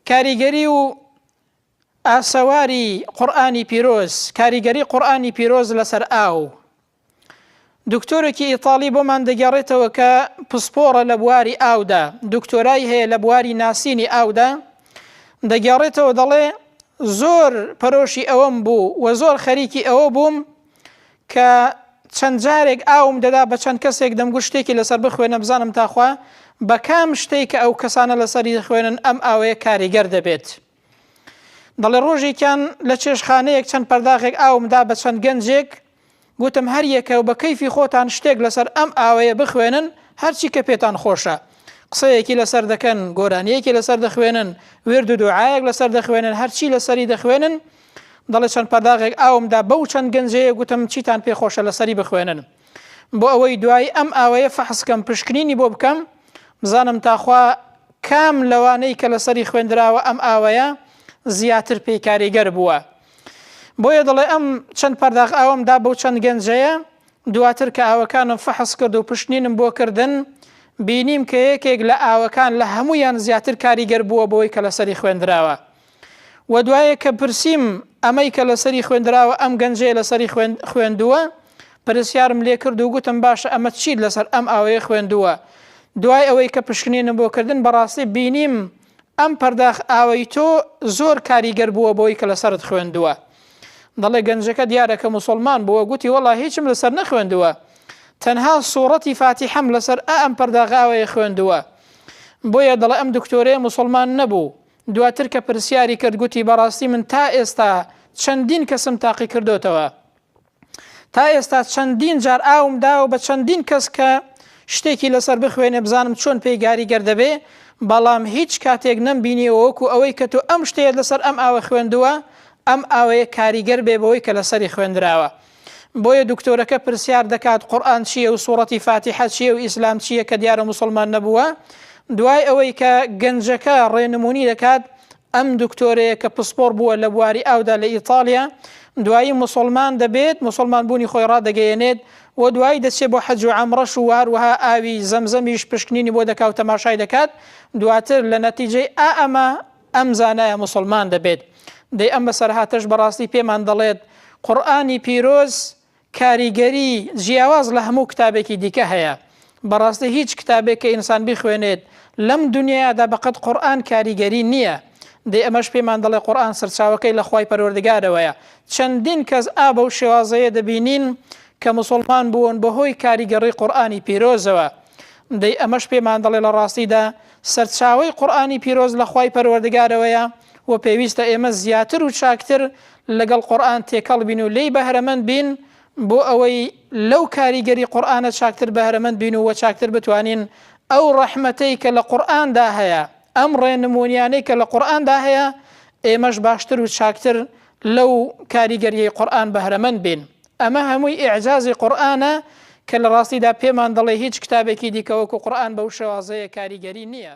کاریگەری و ئاسەواری قورآانی پیرۆز کاریگەری قورآانی پیرۆز لەسەر ئاو دکتۆرێکی ئیتاڵی بۆمان دەگەڕێتەوە کە پسپۆڕە لە بواری ئاودا دکتۆرای هەیە لە بواری ناسینی ئاودا دەگەڕێتەوە دەڵێ زۆر پەرۆشی ئەوەم بوو و زۆر خەریکی ئەوە بووم کە چەند جارێک ئاوم دەدا بە چەند کەسێک دەمگوت شتێکی لەسەر بخوێنە بزانم تاخوا بە کام شتێک کە ئەو کەسانە لەسەری خوێنن ئەم ئاوەیە کاریگەر دەبێت. دەڵێ ڕۆژێکیان لە چێشخانەیەک چەند پەرداغێک ئاومدا بە چەند گەنجێک گوتم هەر یەکە و بە کەیفی خۆتان شتێک لەسەر ئەم ئاوەیە بخوێنن هەرچی کە پێتان خۆشە قسەیەکی لەسەر دەکەن گۆرانیەکی لەسەر دەخوێنن ورد و دوعاەک لەسەر دەخوێنن هەرچی لەسەری دەخوێنن دەڵێت چەند پەرداغێک ئاوم دا بەو چەند گەنجەیە گوتم چیتان پێ خۆشە لەسەری بخوێنن بۆ ئەوەی دوایی ئەم ئاوەیە فەحسکەم پشکنینی بۆ بکەم بزانم تاخوا کام لەوانەی کە لەسەری خوێندراوە ئەم ئاوەیە زیاتر پێی کاریگەر بووە بۆیە دەڵێ ئەم چەند پەرداغ ئاوم دا بەو چەند گەنجەیە دواتر کە ئاوەکانم فەحس کرد و پشتنینم بۆ کردن بینیم کە یەکێک لە ئاوەکان لە هەمویان زیاتر کاریگەر بووە بۆی کە لەسەری خوێندراوە وە دوایێ کە پرسیم ئەمەی کە لەسەری خوێندراوە ئەم گەنجەیە لەسەری خوێندووە؟ پرسیارم لێ کرد و گوتم باشە ئەمە چیت لەسەر ئەم ئاوەیە خوێندووە؟ دوای ئەوەی کە پشکنینم بۆ کردن بەڕاستی بینیم ئەم پەرداخ ئاوەی تۆ زۆر کاریگەر بووە بەوەی کە لەسەرت خوێندووە. دەڵێ گەنجەکە دیارە کە موسڵمان بووە گوتی وەڵا هیچم لەسەر نەخوێندووە تەنها سوڕەتی فاتیحەم لەسەر ئا ئەم پەرداغ ئاوەیە خوێندووە بۆیە دەڵێ ئەم دکتۆرەیە موسڵمان نەبوو دواتر کە پرسیاری کرد گوتی بەڕاستی من تا ئێستا چەندین کەسم تاقی کردۆتەوە تا ئێستا چەندین جار ئاوم داوە بە چەندین کەس کە شتێکی لەسەر بخوێنێ بزانم چۆن پێی گاریگەر دەبێ بەڵام هیچ کاتێک نەم بینیەوە وەکو ئەوەی کە تۆ ئەم شتەیە لەسەر ئەم ئاوە خوێندووە ئەم ئاوەیە کاریگەر بێ بەوەی کە لەسەری خوێندراوە بۆیە دکتۆرەکە پرسیار دەکات قورئان چییە و سوڕەتی فاتیحە چییە و ئیسلام چییە کە دیارە موسڵمان نەبووە دوای ئەوەی کە گەنجەکە ڕێنمونی دەکات ئەم دکتۆرەیە کە پسپۆڕ بووە لە بواری ئاودا لە ئیتالیا دوایی مسلمان دەبێت مسلمان بوونی خۆی ڕادەگەیەنێت و دوایی دەچێت بۆ حەج و ئەمڕەش و هەروەها ئاوی زەمزەمیش پشکنینی بۆ دەکات و تەماشای دەکات دواتر لە نەتیجەی ئا ئەمە ئەم زانایە موسڵمان دەبێت. دەی ئەم بەسەرهاتەش بەڕاستی پێمان دەڵێت قورئانی پیرۆز کاریگەری جیاواز لە هەموو کتابێکی دیکە هەیە. بەڕاستی هیچ کتابێک کە ئینسان بیخوێنێت لەم دونیایادا بەقەد قورئان کاریگەری نییە. دەی ئەمەش پێمان دەڵێت قورئان سەرچاوەکەی لە خوای پەروەردگارەوەیە. چەندین کەس ئا بەو شێوازەیە دەبینین کە موسڵمان بوون بەهۆی کاریگەڕی قورئانی پیرۆزەوە. دەی ئەمەش پێمان دەڵێت لە ڕاستیدا سەرچاوەی قورئانی پیرۆز لە خوای پەروەردگارەوەیە و پێویستە ئێمە زیاتر و چاکتر لەگەڵ قورئان تێکەڵ بین و لێی بەهرەمەند بین بۆ ئەوەی لەو کاریگەری قورئانە چاکتر بەهرەمەند بین و چاکتر بتوانین ئەو ڕەحمەتەی کە لە قورئاندا هەیە ئەم ڕێنمونیانەی کە لە قورئاندا هەیە ئێمەش باشتر و چاکتر لەو کاریگەریەی قورئان بەهرەمەند بین. ئەمە هەمووی ئیعجازی قورئانە کە لە ڕاستیدا پێمان دەڵێ هیچ کتابێکی دیکە وەکو قورئان بەو شێوازەیە کاریگەری نییە.